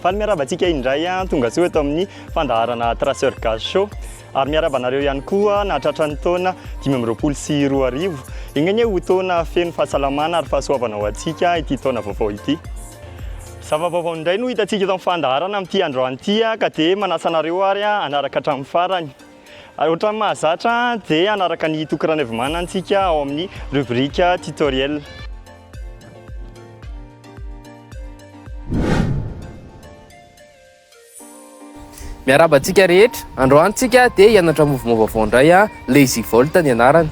Faly miaraba antsika indray an, tonga soa eto amin'ny fandaharana Traceur Gaz Show. Ary miaraba anareo ihany koa nahatratra ny taona 2020 sy 2021. Enganie ho taona feno fahasalamana ary fahasoavana ho antsika ity taona vaovao ity. Zava-baovao indray no hitantsika eto amin'ny fandaharana amin'ity androany ity ka dia manasa anareo ary hanaraka hatramin'ny farany. Ary ohatran'ny mahazatra dia hanaraka an'i Toky Ranaivomana antsika ao amin'ny rubrique tutoriel. Miarahaba antsika rehetra. Androany tsika dia hianatra mouvement vaovao indray a, Lazy Volt ny anarany.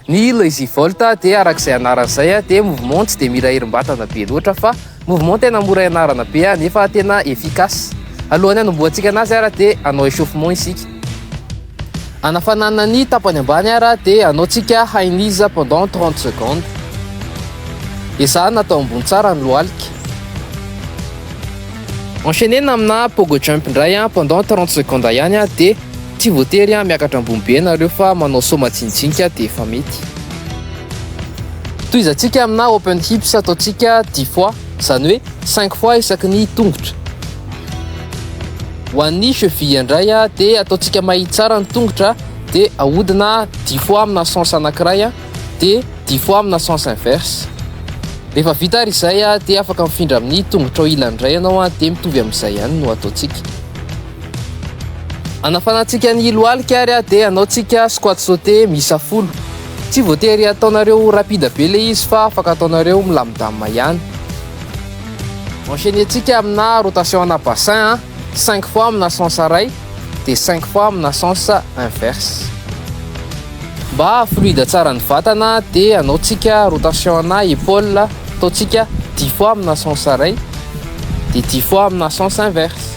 Ny Lazy Vaolte dia araka izay anarany izay dia mouvement tsy dia mila herim-batana be loatra fa mouvement tena mora ianarana be nefa tena efficace. Alohan'ny hanombohantsika anazy ary dia hanao échauffement isika. Hanafanana ny tapany ambany ary dia hanaontsika high knees pendant 30 secondes. Ezahana atao ambony tsara ny lohalika. Enchaîner amina pogo jump indray pendant 30 secondes ihany dia Tsy voatery miakatra ambony be ianareo fa manao saut majinijinika dia efa mety. Tohizantsika amina open hips ataontsika 10 fois, izany hoe 5 fois isaky ny tongotra. Ho an'ny cheville indray dia ataontsika mahitsy tsara ny tongotra dia ahodina 10 fois amina sens anankiray dia 10 fois amina sens inverse. Rehefa vita ary izay dia afaka mifindra amin'ny tongotrao ilany indray ianao dia mitovy amin'izay ihany no ataontsika. Anafanantsika ny lohalika ary dia hanaontsika squat sauté miisa folo. Tsy voatery ataonareo rapide be ilay izy fa afaka ataonareo milamindamina ihany. Enchaîner-tsika amina rotation ana bassin, 5 fois amina sens iray dia 5 fois amina sens inverse. Mba haha-fluide tsara ny vatana dia hanaontsika rotation ana épaule, ataontsika 10 fois amina sens iray dia 10 fois amina sens inverse.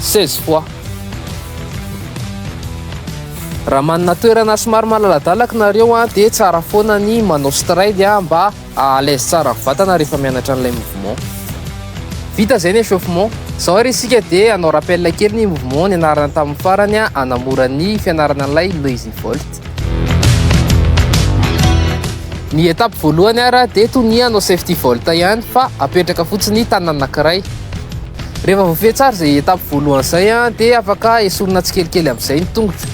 16 fois. Raha manana toerana somary malaladalaka nareo an, dia tsara foana ny manao stride an, mba à l'aise tsara ny vatana rehefa mianatra an'ilay mouvement. Vita izay ny échauffement. Izao ary isika dia hanao rappel kely ny mouvement nianarana tamin'ny farany an, hanamora ny fianarana an'ilay Lazy Vault. Ny étape voalohany ary dia tonia hanao safety vault ihany fa apetraka fotsiny ny tanana anankiray. Rehefa voafehy tsara izay étape voalohany izay dia afaka esorina tsikelikely amin'izay ny tongotra.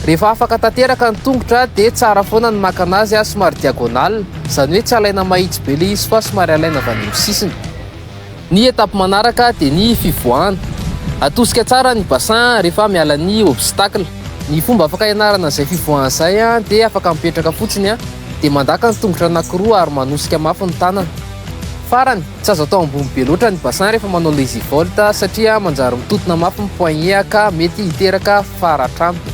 Rehefa afaka tanteraka ny tongotra dia tsara foana ny maka anazy somary diagonale, izany hoe tsy alaina mahitsy be ilay izy fa somary alaina avy any amin'ny sisiny. Ny étape manaraka dia ny fivoahana. Atosika tsara ny bassin rehefa miala ny obstacle. Ny fomba afaka hianarana izay fivoahana izay dia afaka mipetraka fotsiny dia mandaka ny tongotra anankiroa ary manosika mafy ny tanana. Farany, Tsy azo atao ambony be loatra ny bassin rehefa manao lazy vault satria manjary mitotona mafy ny poignet ka mety hiteraka faratr'anto.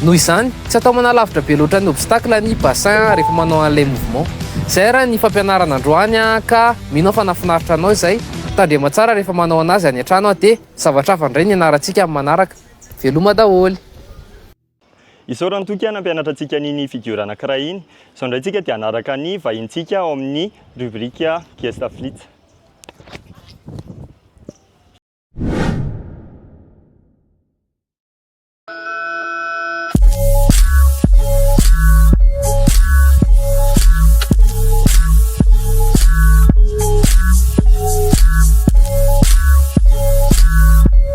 Noho izany, tsy atao manalavitra be loatra ny obstacle ny bassin rehefa manao an'ilay mouvement. Izay ary ny fampianarana androany ka mino aho fa nahafinaritra anao izay. Tandrema tsara rehefa manao anazy any an-trano dia zavatra hafa indray ny ianarantsika amin'ny manaraka. Veloma daholo. Isaorany toky aho nampianatra antsika an'iny figure anankiray iny. Izao indray tsika dia hanaraka ny vahintsika ao amin'ny rubrique Gesta Flits.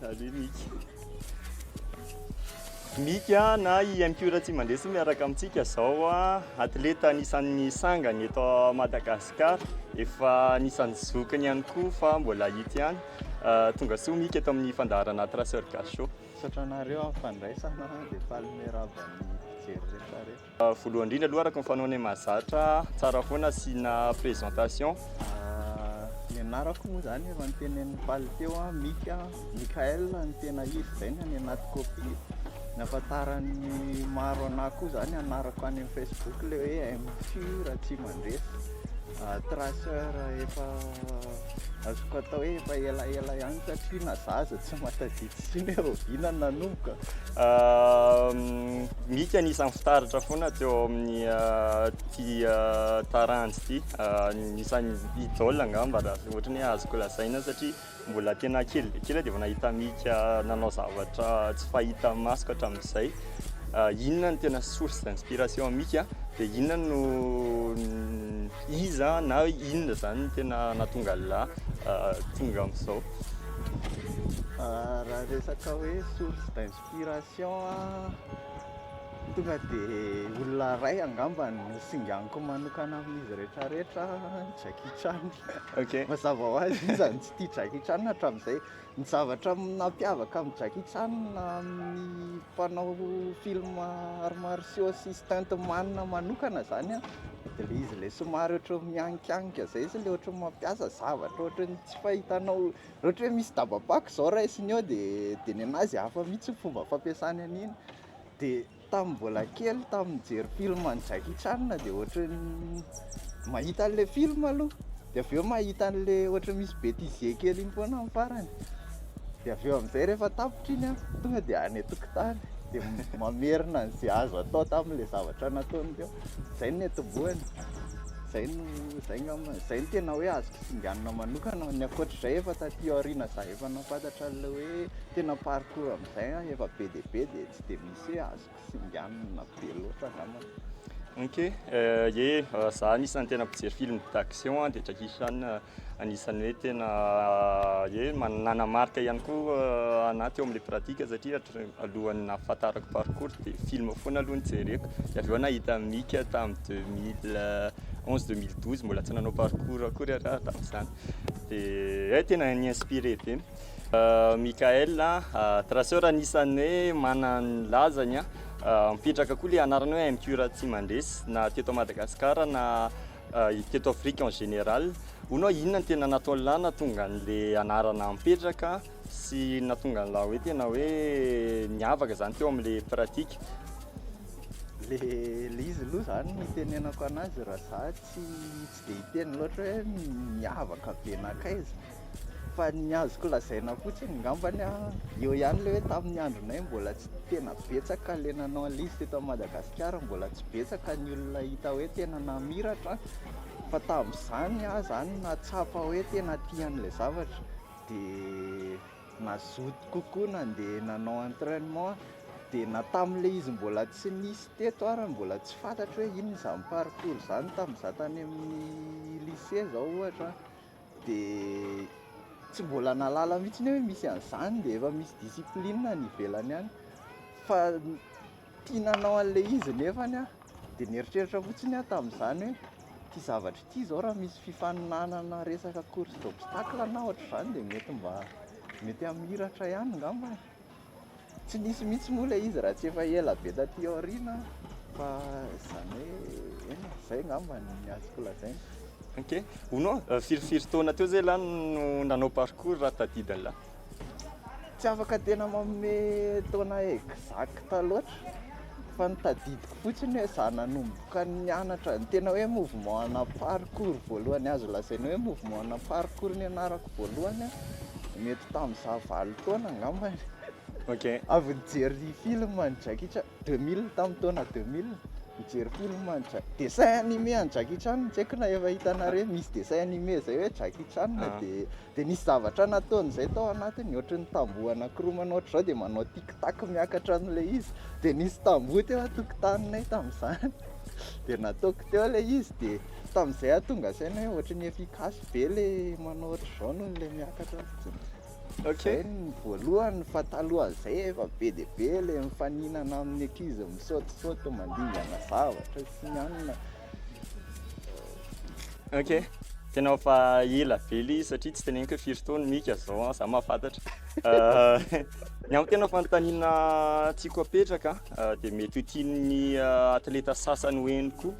Salut Mick. Mick a, na i MQ Ratsimandresy miaraka amintsika izao a, atleta anisan'ny sangany eto Madagascar, efa anisan'ny zokiny ihany koa fa mbola hita ihany. Euh, tonga soa Mick eto amin'ny fandaharana Traceur Gachot. Misaotra anareo amin'ny fandraisana, dia faly miarahaba ny mpijery rehetra rehetra. Voalohany indrindra aloha araka ny fanaonay mahazatra ahy, tsara foana asiana présentation. Ny anarako moa izany efa notenenin'i Paly teo, Mika, Mickaël no tena izy izay no any anaty copie. Ny ahafantaran'ny maro anah koa izany anarako any amin'ny Facebook ilay hoe MFIO Ratsimandresy, Traceur efa. Azoko atao hoe efa elaela ihany satria na za aza tsy mahatadidy intsony hoe rahoviana no nanomboka. Mika anisan'ny fitaratra foana teo amin'ny ity taranja ity. Anisan'ny idole angamba raha ohatra ny hoe azoko lazaina satria mbola tena kely dia kely aho dia efa nahita Mika nanao zavatra tsy fahita masoko hatramin'izay. Inona no tena source d'inspiration an'i Mika dia inona no Iza na inona izany no tena nahatonga an'lah tonga amin'izao? Raha resaka hoe source d'inspiration an, tonga dia olona iray angamba no singaniko manokana amin'izy rehetrarehetra, Jackie Chan. Ok. Mazava ho azy, iza no tsy tia Jackie Chan hatramin'izay? Ny zavatra nampiavaka an'i Jackie Chan amin'ny mpanao film arts martiaux sy stunt man manokana zany an, dia ilay izy ilay somary ohatran'ny mianikianika izay izy, ilay ohatran'ny mampiasa zavatra ohatran'ny tsy fahitanao, raha ohatra hoe misy daba-pako izao raisiny eo dia dia ny anazy hafa mihitsy ny fomba fampiasany an'iny, dia. Tamin'ny mbola kely tamin'ny nijery film an'i Jackie Chan dia ohatry ny mahita an'ilay film aloha dia avy eo mahita an'ilay ohatry ny misy bêtisier kely iny foana amin'ny farany dia avy eo amin'izay rehefa tapitra iny an tonga dia any an-tokotany dia mamerina an'izay azo atao tamin'ilay zavatra nataony teo, izay no niantombohany, izay no, izay ngamba, izay no tena hoe azo kisinganina manokana, ny ankoatr'izay efa taty aoriana za efa nahafantatra an'ilay hoe tena parcours. Zay an efa be dia be dia tsy dia misy hoe azo kisinganina be loatra angambany. Ok, ye, za anisan'ny tena mpijery film d'action an, dia Jackie Chan anisan'ny hoe tena ye nanamarika ihany koa anah teo amin'ilay pratique satria alohan'ny nahafantarako parkour dia film foana aloha no jereko, dia avy eo nahita Mika tamin'ny deux mille onze, deux mille douze mbola tsy nanao parkour akory ialahy tamin'izany dia eh tena ni-inspirer be. Michael Traceur anisan'ny hoe manana ny lazany an, mipetraka koa ilay anarana hoe MQ raha tsy mandresy na teto Madagascar na teto Afrique en général, hono aho inona no tena nataon'lah nahatonga an'ilay anarana mipetraka sy nahatonga an'lah hoe tena hoe niavaka zany teo amin'ilay pratique. Le le izy aloha zany ny itenenako anazy raha za tsy tsy dia hiteny loatra hoe miavaka be nankaiza, Fa ny azoko lazaina fotsiny ngambany a, eo ihany ilay hoe tamin'ny andronay mbola tsy tena betsaka ilay nanao an'ilay izy teto Madagasikara, mbola tsy betsaka ny olona hita hoe tena namiratra, fa tamin'izany aho izany nahatsapa hoe tena tia an'ilay zavatra dia nazoto kokoa nandeha nanao entrainement aho, dia na tamin'ilay izy mbola tsy nisy teto ary mbola tsy fantatro hoe inona izany parcours izany tamin'izaho tany amin'ny lycée izao ohatra an. dia tsy mbola nahalala mihitsy hoe misy an'izany dia efa misy discipline any ivelany any fa tia nanao an'ilay izy nefa aho dia nieritreritra fotsiny aho tamin'izany hoe ity zavatra ity izao raha misy fifaninanana resaka course d'obstacle na ohatr'izany dia mety mba mety hamiratra ihany angamba e Tsy nisy mihitsy moa ilay izy raha tsy efa ela be taty aoriana aho fa izany hoe eny e, izay angamba ny azoko lazaina. Ok, hono an, firy firy taona teo zay lany no nanao parcours raha tadidiny lany? Tsy afaka tena manome taona exacte loatra. Fa ny tadidiko fotsiny hoe za nanomboka nianatra ny tena hoe mouvement ana parcours voalohany azo lazaina hoe mouvement ana parcours nianarako voalohany a, mety tamin'izaho valo taona angamba e. Ok. Avy nijery film an'i Jackie Chan, deux mille, tamin'ny taona deux mille, nijery film an'i Jack- dessin animé an'i Jackie Chan tsy haiko na efa hitanareo misy dessin animé zay hoe Jackie Chan dia Dia nisy zavatra nataony izay tao anatiny, ohatry ny tamboho anankiroa ohatry izao dia manao tic tac miakatra an'ilay izy, dia nisy tamboho teo an-tokotaninay tamin'izany, dia nataoko teo ilay izy, dia tamin'izay aho tonga saina hoe ohatry ny efficace be ilay manao ohatry izao noho ilay miakatra fotsiny. Ok. Zay ny voalohany fa talohan'izay efa be dia be ilay mifaninana amin'ny ankizy misaotisaoty mandingana zavatra sy ny anona, Ok. Tena efa ela be ilay izy satria tsy teneniko hoe firy taona mika zao an, za mahafantatra. Euh, ny amin'ny tena fanontaniana tiako apetraka euh, dia mety ho tian'ny euh, atleta sasany ho eny koa.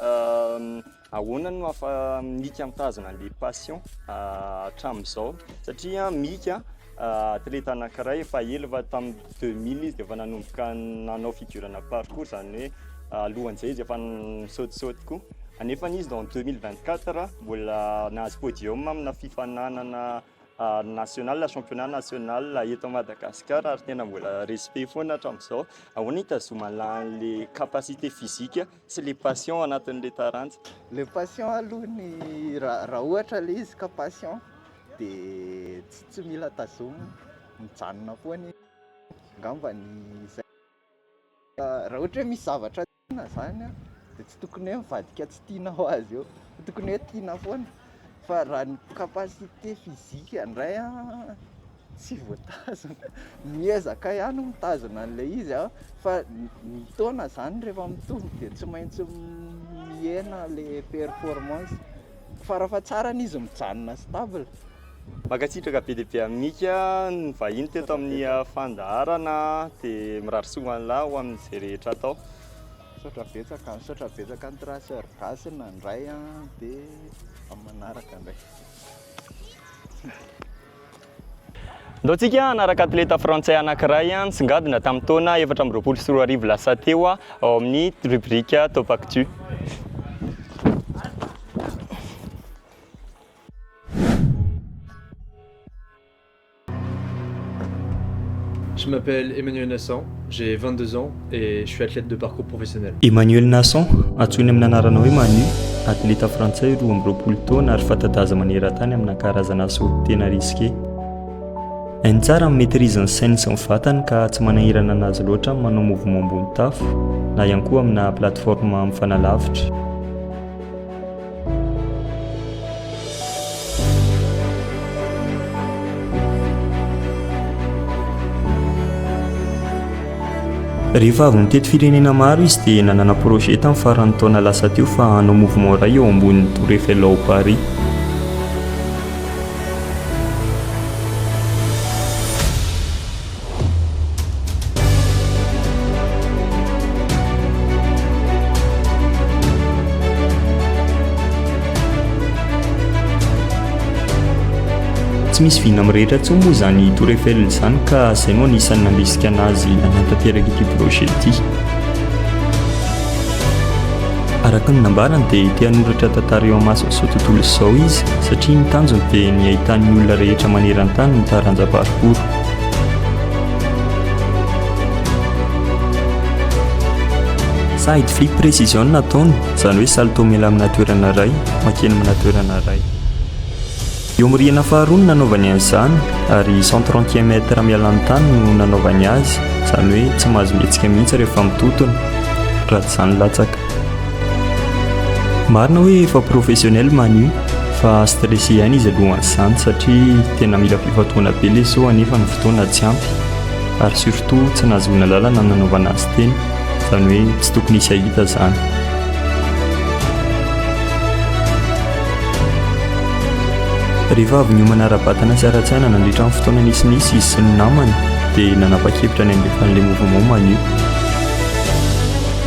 Euh, ahoana no hafa mika mitazona an'ilay passion euh, hatramin'izao? Satria mika Atleta anankiray efa ela fa tamin'ny deux mille izy dia efa nanomboka nanao fidurana parcours izany hoe alohan'izay izy efa nisaotisaoty koa. Anefany izy en deux mille vingt quatre mbola nahazo podium amina fifaninanana national, championnat national eto Madagasikara ary tena mbola respect foana hatramin'izao. Ahoana no hitazomana an'ilay capacité physique Tsy le passion anatin'le taranja. Le passion aloha ny raha ohatra le izy ka passion de tsy mila tazomina, mijanona foana izy, angamba ny izay raha ohatra hoe misy zavatra tiana zany de tsy tokony hoe mivadika tsy tiana ho azy eo fa tokony hoe tiana foana. Fa raha ny capacité physique ndray an, tsy voatazona, miezaka ihany mitazona an'ilay izy an, fa ny taona zany rehefa mitombo dia tsy maintsy mihena ilay performance, farafahatsarany izy mijanona stable. Mankasitraka be dia be an'i Mika nivahiny teto amin'ny fandaharana, dia mirary soa ho an'lah ho amin'izay rehetra atao. Misaotra betsaka, misaotra betsaka an'i Traceur Gasy nandray an, dia amin'ny manaraka indray. Ndao tsika hanaraka atleta frantsay anankiray nisongadina tamin'ny taona efatra amby roapolo sy roa arivo lasa teo ao amin'ny rubrique Top Actu. Je m'appelle Emmanuel Nassan, j'ai vingt deux ans et je suis athlète de parcours professionnel. Emmanuel Nassan, antsoiny amin'ny anarana hoe Manu, atleta frantsay roa amby roapolo taona ary fanta-daza maneran-tany amina karazana asa oty tena risqué. Hainy tsara amin'ny maîtrise ny sainy sy ny vatany ka tsy manahirana anazy loatra amin'ny manao mouvement ambony tafo na ihany koa amina plateforme mifanalavitra. Rehefa avy nitety firenena maro izy dia nanana projet tamin'ny faran'ny taona lasa teo fa hanao mouvement iray eo ambonin'ny Tour Eiffel ao Paris. Tsy misy vina amin'ny rehetra intsony moa izany Tour Eiffel izany ka izay no anisan'ny nandrisika anazy nanatanteraka ity projet ity. Araka ny nambarany dia te hanoratra tantara eo amin'izao tontolo izao izy satria ny tanjony dia ny hahitan'ny olona rehetra maneran-tany ny taranja parcours. Side flip precision no ataony, izany hoe salto mila amina toerana iray, mankeny amina toerana iray. Eo amin'ny rihana faharoa no nanaovany an'izany, ary cent trente e mètre miala amin'ny tany no nanaovany azy, izany hoe tsy mahazo mihetsika mihitsy rehefa mitotona, raha tsy izany latsaka. Marina hoe efa professionnel Manu fa stressé ihany izy alohan'izany satria tena mila fifantohana be ilay show anefa ny fotoana tsy ampy ary surtout tsy nahazoana lalana nanaovana azy teny izany hoe tsy tokony hisy hahita izany. Rehefa avy niomana ara-batana sy ara-tsaina nandritra ny fotoana nisinisy izy sy ny namany dia nanapa-kevitra ny handefa an'ilay mouvement Manu.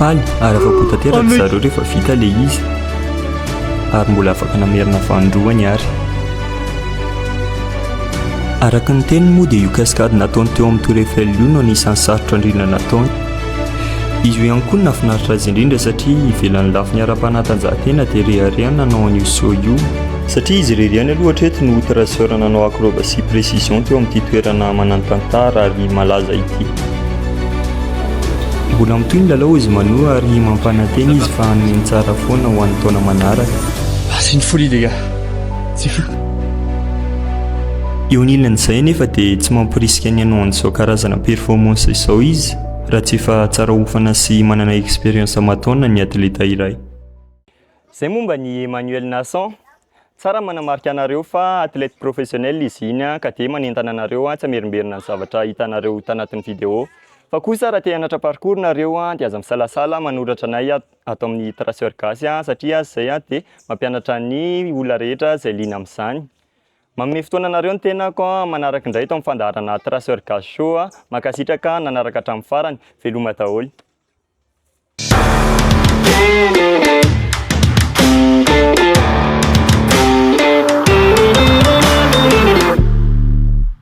Any ary afa-po tanteraka ry zareo rehefa vita ilay izy ary mbola afaka namerina vanin-droa ny ary. Araka ny teniny moa dia io cascade nataony teo amin'ny Tour Eiffel io no anisan'ny sarotra indrindra nataony. Izy io ihany koa no nahafinaritra azy indrindra satria ivelan'ny lafiny ara-panatanjahantena dia rehareha ny nanao an'io saut io, satria izy irery ihany aloha hatreto no traceur nanao acrobatie précision teo amin'ity toerana manan-tantara ary malaza ity. Mbola mitohy ny lalao hozy Mano ary mampanantena izy fa hanome ny tsara foana ho an'ny taona manaraka. Asin'ny folie les gars. Tsy fantatra. Eo anilan'izay anefa dia tsy mamporisika ny hanao an'izao karazana performance izao izy raha tsy efa tsara hofana sy manana expérience aman-taonina ny atleta iray. Izay momba an'i Emmanuel Nassan. Tsara ny manamarika anareo fa athlète professionnel izy iny ka dia manentana anareo tsy hamerimberina ny zavatra hitanareo tanatin'ny vidéo. Fa kosa raha te hanatra parcours nareo dia aza misalasala manoratra anay ato. ato amin'ny Traceur Gasy satria azy izay dia mampianatra ny olona rehetra izay liana amin'izany. Manome fotoana anareo ny tenako manaraka indray eto amin'ny fandaharana Traceur Gasy Show. Mankasitraka nanaraka hatramin'ny farany. Veloma daholo.